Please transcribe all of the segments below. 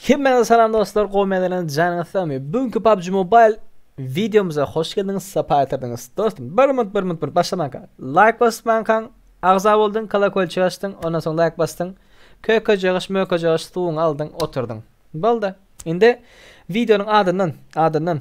Hemmäňize salam dostlar gowy meňzelenç janyňyz sagmy bu günki PUBG Mobile videomyza hoş geldiňiz sapa getirdiňiz dostum bir minut bir minut bir başlamanka like basyp mankan agza boldyň kolakolçyk açdyň ondan soň like basdyň köke jagaş möke jagaş suwuňy aldyň oturdyň boldy indi videonyň adyndan adyndan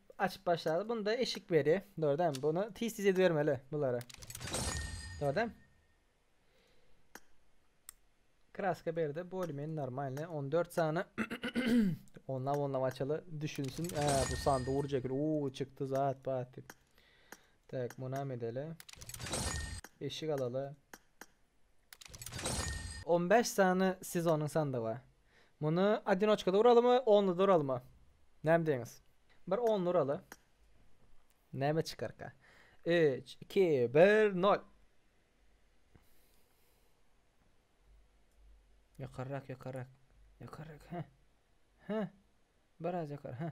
Açyp başlady. Bunda eşik beri. Dogry dämi? Bunu tiz tiz edibermeli bulary. Dogry dämi? Kraska berdi. Bolmen normalny. 14 sany. onla onla açalı. Düşünsün. He, bu sandy urjak. Uuu çıktı zat bat. Tak, buna medeli. Eşik alalı. 15 sany sezonun sandygy. Muny odinoçkada uralymy, onluda uralymy? Näme diýiňiz? Bir only uraly. Näme çykarka? Üç, iki, bir, nol. Ýokarrak, ýokarrak. Ýokarrak, hä. Hä. Biraz ýokary, hä.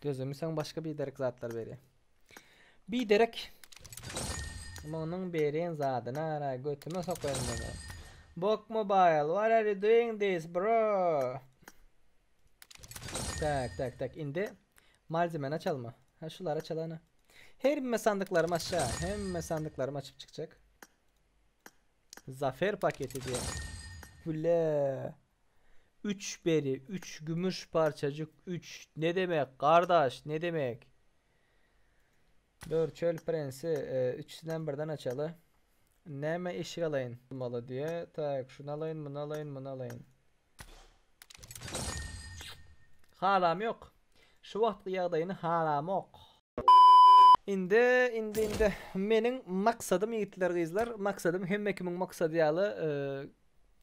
Gözümi sen başka bir derek zatlar beri. Bir derek Munuň beren zadyny ara götüme sokaýyn meni. Bok Mobile, what are you doing this bro? Tak tak tak indi malzemeni açalma. Ha şulara çalana. Hemme sandyklarymy açja. Hemme sandyklarymy açyp çykjak. Zafer paketi diýen. Bile. Üç beri, üç gümüş parçajyk, üç. Ne demek, gardaş, ne demek? Dur, çöl prensi, üçüsinem birden açaly. Näme eşik alaýyn? Bolmaly diýe. Tak, şuny alaýyn, muny alaýyn, muny alaýyn. Halam ýok. Şu wagtky ýagdaýyny halamok. Indi indi indi meniň maksadym ýigitler gyzlar maksadym hemme kimiň maksady ýaly e,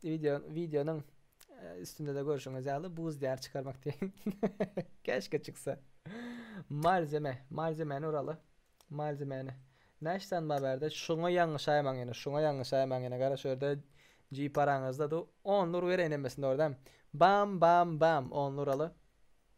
video videonyň e, üstünde-de görşüňiz ýaly buz diýar çykarmak diýen. Keşke çyksa. Malzeme, malzemeni uraly. Malzemeni. Näş san bar bärde? Şuňa ýalňyşaýmaň ýene, şuňa ýalňyşaýmaň ýene. Gara şu ýerde G paraňyzda du 10 nur bereýin hemmesinde ordam. Bam bam bam 10 nur aly.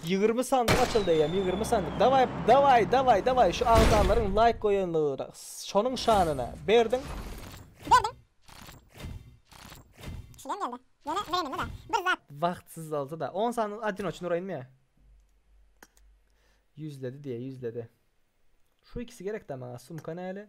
Ýigrimi sandyk açyldy eýýäm ýigrimi sandyk dawaý dawaý dawaý dawaý şu agzalaryň laýk goýanlygyna şonuň şanyna berdiň. Berdiň. Şulam geldi. Ýöne bereninde bar. Bir zat. Wagtsyz bolsa da. On sandyk adinoçny uraýynmy ýa. Ýüzledi diýe ýüzledi. Şu ikisi gerekdä maňa sumka näle.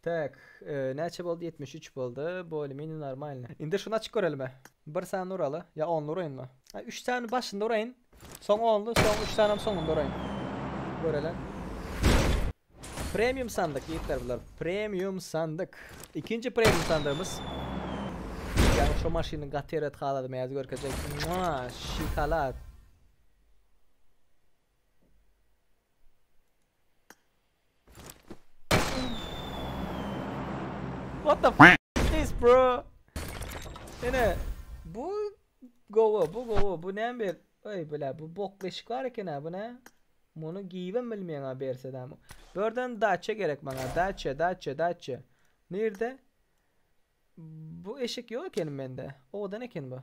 Tak, näçe boldy ýetmiş üç boldy, bolye menje normalny. Indi şuny açyp görelime. Bir sany uraly, ýa only uraýynmy? A üç sany başynda uraýyn, soň only, soň üç sanam soňunda uraýyn. Görele. Premium sandyk ýigitler bular. Premium sandyk. Ikinji premium sandygymyz. Ýa şu maşynyň gaty erbet halaty mäzi görkezjek. Mua, şokolad. What the f is this bro? Yine bu gowa bu gowa bu ne bir ay bile bu bok beşik var eken ha bu ne? Bunu giyivem bilmeyen ha berse de ama. Börden daça gerek bana daça daça daça. Nerede? Bu eşik yok eken bende. Odan eken bu.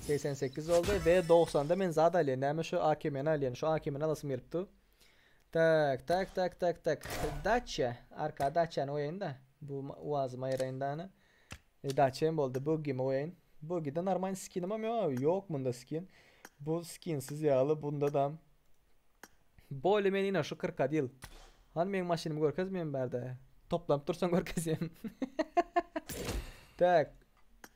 Segsen sekiz oldy we dogsanda men zat alýan näme şu akimeni alýan şu akimeni alasym gelip dur. Tak tak tak tak tak daçya arka daçyany goýaýyn da bu uazy maýraýyn dana. E, daçya hem boldy bugimi goýaýyn. Bugide normal skinim hem ýok abi ýok munda skin. Bu skinsiz ýaly bunda da Bolly men ina şu krokadil. Hany meň maşynymy görkez men bärde. Toplanyp dursaň görkezýän. tak.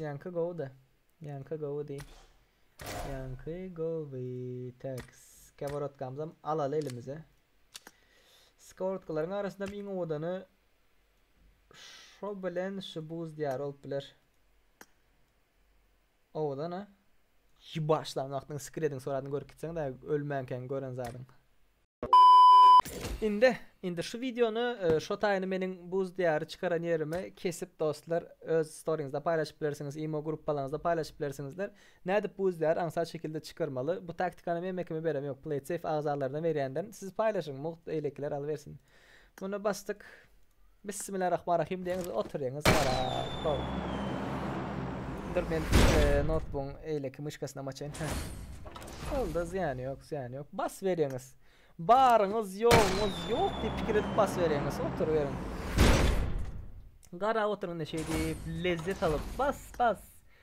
Ýaňky gowy-da. Ýaňky gowy diý. Ýaňky gowy. Teks. Keworotkamyzam alaly elimize. Skeworotklaryň arasynda iň owadany şo bilen şu buz diýar bolup biler. Owadan-a. Ýi başlan wagtyň skrediň suratyny görüp gitseňdä ölmänkäň gören zadyň. Indi indi şu wideony şo taýyny meniň buz diýary çykaran ýerime kesip dostlar öz storyňyzda paýlaşyp bilersiňiz imo gruppalaňyzda paýlaşyp bilersiňizler nädip buz diýary aňsat şekilde çykarmaly bu taktikany men mekime berem ýok playtsafe agzalaryna berýändirin siz paýlaşyň mugt beýlekiler alybersin Muny basdyk. Bismillarahmanrahim deňiz oturyňyz ara. Hop. Dur men e, notebookyň eýleki myşkasyna maçaýyn. Şolda zyýany ýok, zyýany ýok. Bas beriňiz. Baryňyz, ýoguňyz ýok diýip pikir edip bas beriňiz. Oturyberiň. Garap oturyň indi şeýdip, lezzet alyp. Bas, bas.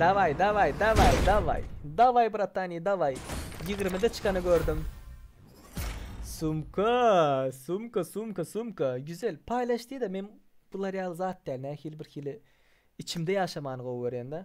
Daway daway daway daway daway bratani daway ýigrimide çykany gördüm. Sumka sumka sumka sumka güzel paýlaş diýdä men bular ýaly zat däl nähili birhili içimde ýaşamany gowy görýän-dä.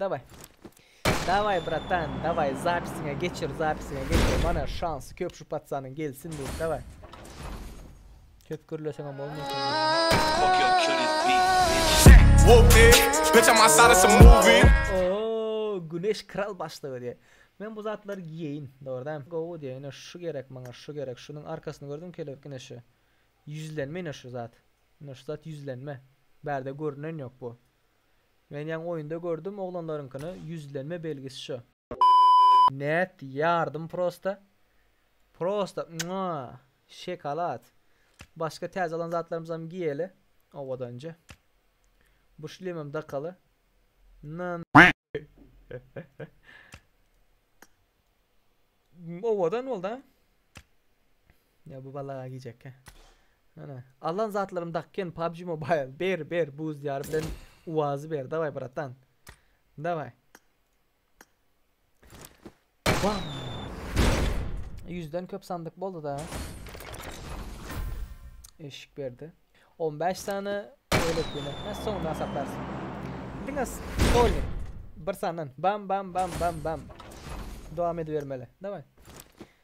Daway. Daway bratan daway zapisiňe geçir zapisiňe geçir mana şans köp şu patsanyň gelsin diýip daway. Köp gürleseňem bolmaýar. Oo güneş kral başlygy diýe. Men bu zatlary giýeýin dogryda. Gowy diýe ine şu gerek maňa şu gerek şunuň arkasyny gördüm kelebek ine şu. Ýüzlenme ine şu zat. Ine şu zat ýüzlenme. Bärde görünen ýok bu. Men ýaňy oýunda gördüm oglanlaryňkyny ýüzlenme belgisi şo. Net ýardym prosta prosta mwaa şekalat başga täze alan zatlarymyzam giýeli owadanja bu şlemem dakaly na owadan boldy a. Ýa bu balaga gijekkä. Ana, alan zatlarymy dakýan PUBG Mobile. Ber, ber, buz diýary bilen UAZ-y ber. Daway, bratan. Daway. Wah! Ýüzden köp sandyk boldy-da. Eşik berdi. 15 sany öýlek ýene. Hä, soňra hasaplarsyň. Diňe stolik. Bir sandan. Bam, bam, bam, bam, bam. Dowam edibermeli. Daway.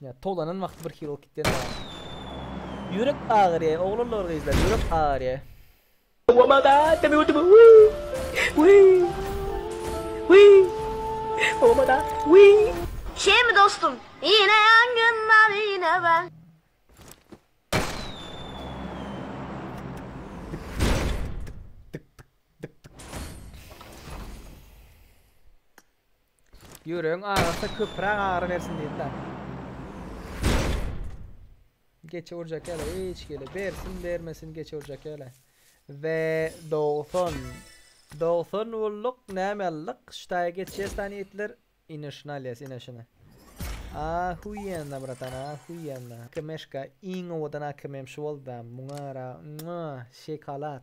Düşünýän. Towlanan wagty bir Hello Kitty-den alaryn. Ýürek agyrýa oglanlar gyzlar ýürek agyrýa. Obada deme ödeme wiý wiý wiý obada wiý. Şeými dostum ýene ýangyn mawyna ben. Ýüregiň agyrsa köpürak agyry bersin diýip da. Geçe urjak ýaly hiç gele bersin bermesin geçe urjak ýaly. Ve 90. 90 bulduk näme aldyk? Ştaýa geçýäs tani ýetler. Ine şuna alýas ine şuna. Ahuýenna bratan ahuýenna. Kemşka iň owadan akymym şu bolda. Muňara şokolad.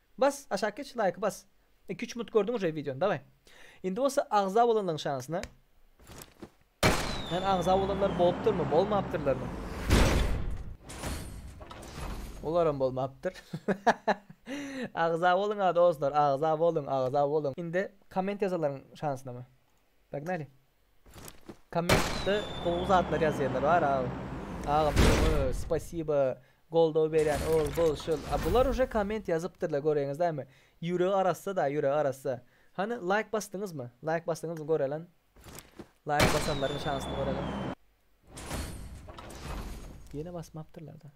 Bas aşak geç laýky bas. Iki üç minut gördüň uje wideony daway. Indi bolsa agza bolanlaň şanysyna. Yani agza bolanlar bolupdyrmy, bolmapdyrlarmy? Olaram bolmapdyr. agza boluň a dostlar, agza boluň, agza boluň. Indi komment ýazallaryň şansyna mı? Pognaly. Kommentde gowy zatlar ýazýanlar bar agam. Agam öňe spasiba goldaw berýän ol bul şul. A bular uje komment ýazypdyrlar göreňiz dämi. Ýüregi arassa da ýüregi arassa. Hany laýk basdyňyzmy? Laýk basdyňyzmy görelen. Laýk basanlaryň şansyny görelen. Ýene basmapdyrlar da.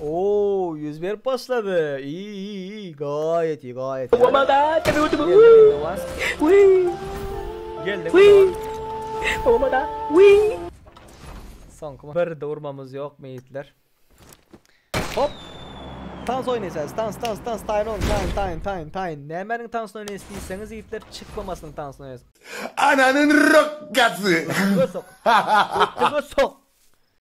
Ooo ýüz berip başlady. Iiiiii gaýet iyi gaýet iyi. Obada tebe ötüp. Geldim indi was. Geldim indi. Obada. Soňky bir de urmamyz ýokmy ýigitler. Hop. Tans oýnaýsaz. Tans tans tans taýyn ol taýyn taýyn taýyn taýyn. Nämäniň tansyny oýnaýsy diýseňiz ýigitler çykmamasynyň tansyny oýnaýsy. Ananyň rokgasy. Ötüge sok. Ötüge sok.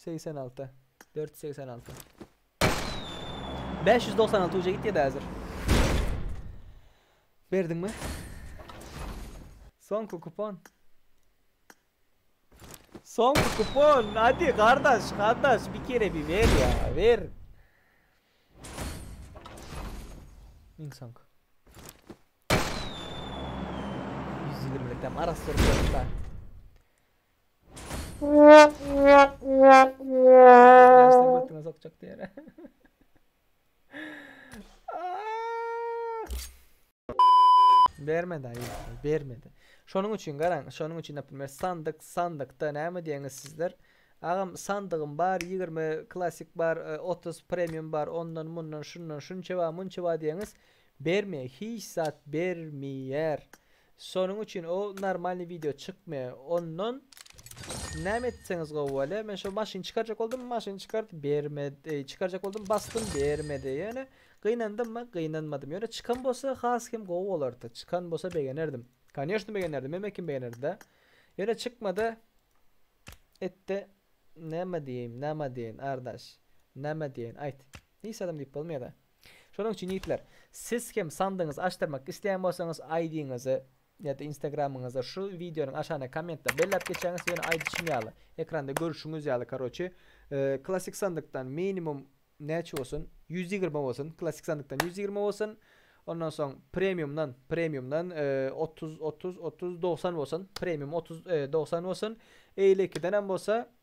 Segsen alty. Dört ýüz segsen alty. Bäş ýüz doksan alty uje gitýä-dä häzir. Berdiňmi? Soňky kupon. Soňky kupon. Hadi gardaş, gardaş bir kere bir ber ýa, ber. Iň soňky. Ýüz ýigrimilikem arassyr berdim-dä. Bermedi aýy, bermedi. Şonuň üçin garaň, şonuň üçin naprimýer sandyk, sandykda näme diýeňiz sizler? Agam sandygym bar, 20 klassyk bar, 30 premium bar, ondan, mundan, şundan, şunça bar, munça bar diýeňiz. Berme hiç zat bermiýär. Şonuň üçin o normalny wideo çykmy ondan näme etseňiz gowy bolýa men şo maşyny çykarjak boldum maşyny çykart bermedi eý çykarjak boldum basdym bermedi ýöne gynandymmy gynanmadym ýöne çykan bolsa has hem gowy bolardy çykan bolsa begenerdim kanyýoşny begenerdim hemme kim begenerdida ýöne çykmady etdi näme diýeýin näme diýeýin ardaş näme diýeýin aýt hiç zadam diýip bolmaýada. Şonuň üçin ýigitler, siz hem sandygyňyzy açdyrmak isleýän bolsaňyz ID-ňizi ýa-da Instagramyňyzy şu wideonyň aşagyndaky kommentde belläp geçýäňiz, ýöne aýdyşym ýaly, ekranda görüşiňiz ýaly karoçi, klassik sandykdan minimum näçe bolsun, ýüz ýigrimi bolsun, klassik sandykdan ýüz ýigrimi bolsun, ondan soň premiumdan, premiumdan otuz, otuz, otuz, dogsan bolsun, premium otuz, dogsan bolsun, eýle ikidenem bolsa,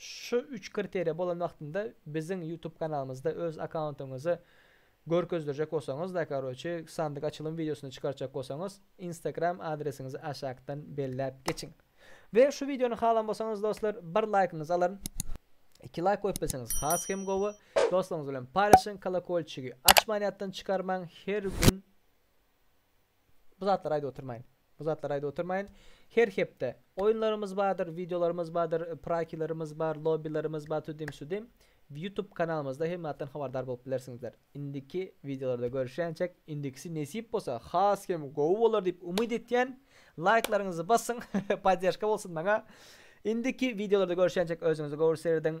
Şu üç kriteriýa bolan wagtynda biziň ýutub kanalymyzda öz akkauntyňyzy görkezdirjek bolsaňyz da karoçi sandyk açylym wideosyny çykartjak bolsaňyz instagram adresiňizi aşakdan belläp geçiň. We şu wideony halan bolsaňyz dostlar bir laýkyňyzy alaryn. Iki laýk goýup bilseňiz has hem gowy. Dostlaryňyz bilen paýlaşyň kolokolçigi açman ýatdan çykarmaň her gün Bu zatlary aýdyp oturmaýyn. Bu zatlary aýdyp oturmaýyn. Her hepde oýunlarymyz bardyr, wideolarymyz bardyr, prakilerimiz bar, lobbilerimiz bar, tudim-sudim. Youtube kanalymyzda hemme zatdan habardar bolup bilersiňizler. Indiki wideolarda görüşýänçäk, indikisi nesip bolsa has hem gowy bolar diýip umyt etýän. Laýklaryňyzy basyň, podderžka bolsun maňa. Indiki wideolarda görüşýänçäk özüňize gowy serediň.